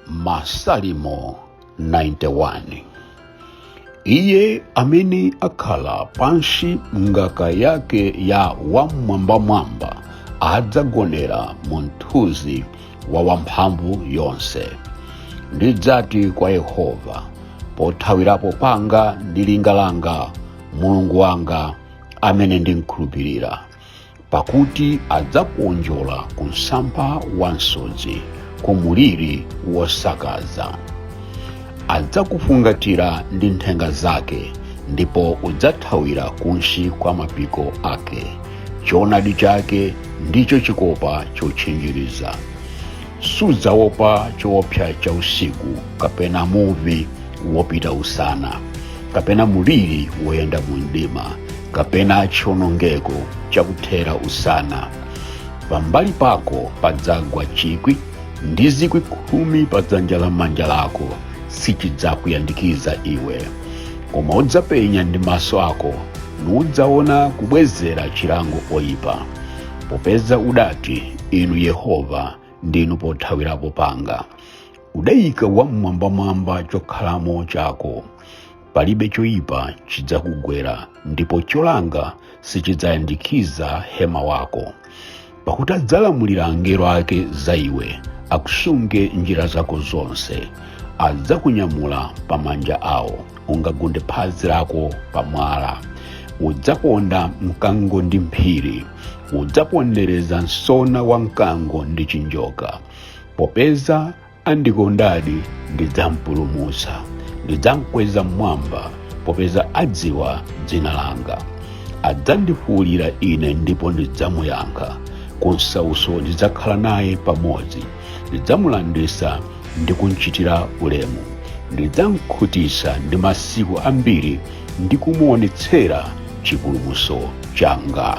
masalimo 91 iye amene akhala pansi m'ngaka yake ya wam'mwambamwamba adzagonera mu mthunzi wa wamphamvu yonse ndidzati kwa yehova pothawirapo panga ndi linga langa mulungu wanga amene ndimkhulupirira pakuti adzakuonjola ku msampha wa msodzi ku muliri wosakaza adzakufungatira ndi nthenga zake ndipo udzathawira kunsi kwa mapiko ake choonadi chake ndicho chikopa chotchinjiriza sudzaopa choopsa cha usiku kapena muvi wopita usana kapena muliri woyenda mu mdima kapena chionongeko chakuthera usana pambali pako padzagwa chikwi ndi zikwi khumi pa dzanja lamanja lako sichidzakuyandikiza iwe koma udzapenya ndi maso ako nudzaona kubwezera chilango oyipa popeza udati inu yehova ndinu pothawirapo panga udayika wam'mwambamwamba chokhalamo chako palibe choyipa chidzakugwera ndipo cholanga sichidzayandikiza hema wako pakuti adzalamulira angelo ake za iwe akusunge m'njira zako zonse adzakunyamula pa manja awo ungagunde phazi lako pa mwala udzaponda mkango ndi mphiri udzapondereza msona wa mkango ndi chinjoka popeza andikondadi ndidzampulumutsa ndidzamkweza m'mwamba popeza adziwa dzina langa adzandifuulira ine ndipo ndidzamuyankha kunsauso ndidzakhala naye pamodzi ndidzamulanditsa ndi kumchitira ulemu ndidzamkhutitsa ndi masiku ambiri ndi kumuonetsera chipulumutso changa